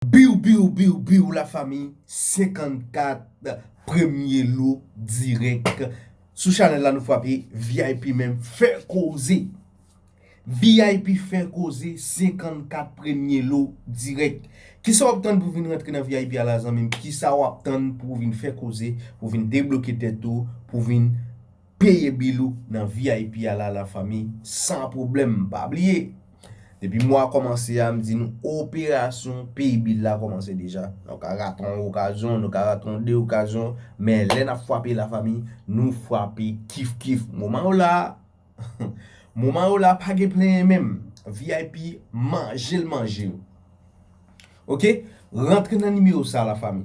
Biw biw biw biw la fami 54 premye lo dirèk sou chanèl la nou frape vip men fè koze vip fè koze 54 premye lo dirèk kisa wap tann pou vin rantre nan vip a la zanmim kisa wap tann pou vin fè koze pou vin debloke tèt ou pou vin Peye bil ou nan vip a la la fanmi san pwoblèm pa bliye depi mwa kòmanse a m di nou operasyon peye bil la kòmanse deja nou ka rate yon okazyon nou ka rate yon 2 okazyon men lè nap fwape la fanmi nou fwape kif kif moman yo la moman yo la pa gen plenyen menm vip manjel manjew ok rantre nan nimewo sa la fanmi.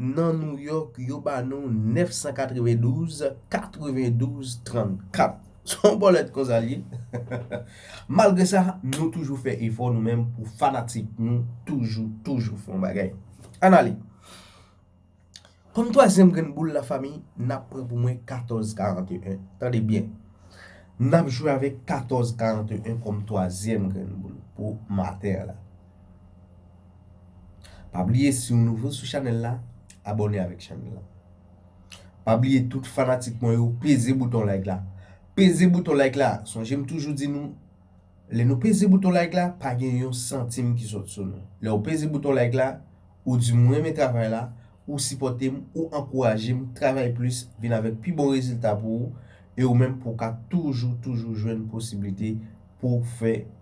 Nan Nouyòk, yo ba nou 992, 92, 34. Son bòlèt konsa l ye. Malgre sa, nou toujou fè efò nou menm pou fanatik nou toujou, toujou fè yon bagay. Ann ale! Kòm twazyèm grenn boul lafanmi, n ap pran pou mwen 14, 41. Tande byen! N ap jwe avèk 14, 41 kòm twazyèm grenn boul pou maten an la. Pa bliye siw nouvo sou chanèl la abòne avèk chanèl la Pa bliye tout fanatik mwen yo peze bouton like la Peze bouton like la Sonje m toujou di nou Lè nou peze bouton like la pa gen yon santim ki sòt sou nou Lèw peze bouton like la ou di m ou renmen travay la ou sipòte m ou ankouraje m travay plis vin avèk pi bon rezilta pou ou e ou menm pou w ka toujou toujou jwenn posiblite pou w fè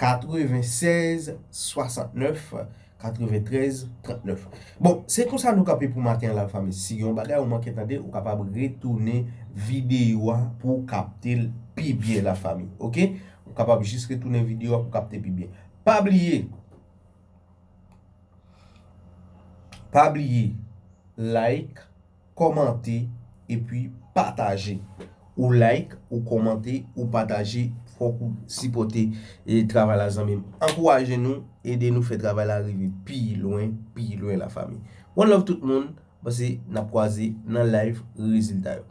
96 69 93 39 Bon se konsa nou kanpe pou maten an la fanmi si gen yon bagay ou manke tande ou kapab retounen videyo a pou w kapte l pi byen la fanmi ok ou kapab jis retounen videyo a pou w kapte l pi byen pa bliye pa bliye like kòmante epi pataje. Ou like, ou kòmante, ou pataje fòk ou sipòte travay la zanmim. Ankouraje nou, ede nou fè travay la rive pi lwen, pi lwen la fami. One love tout moun, pase nap kwaze nan live rezilta yo.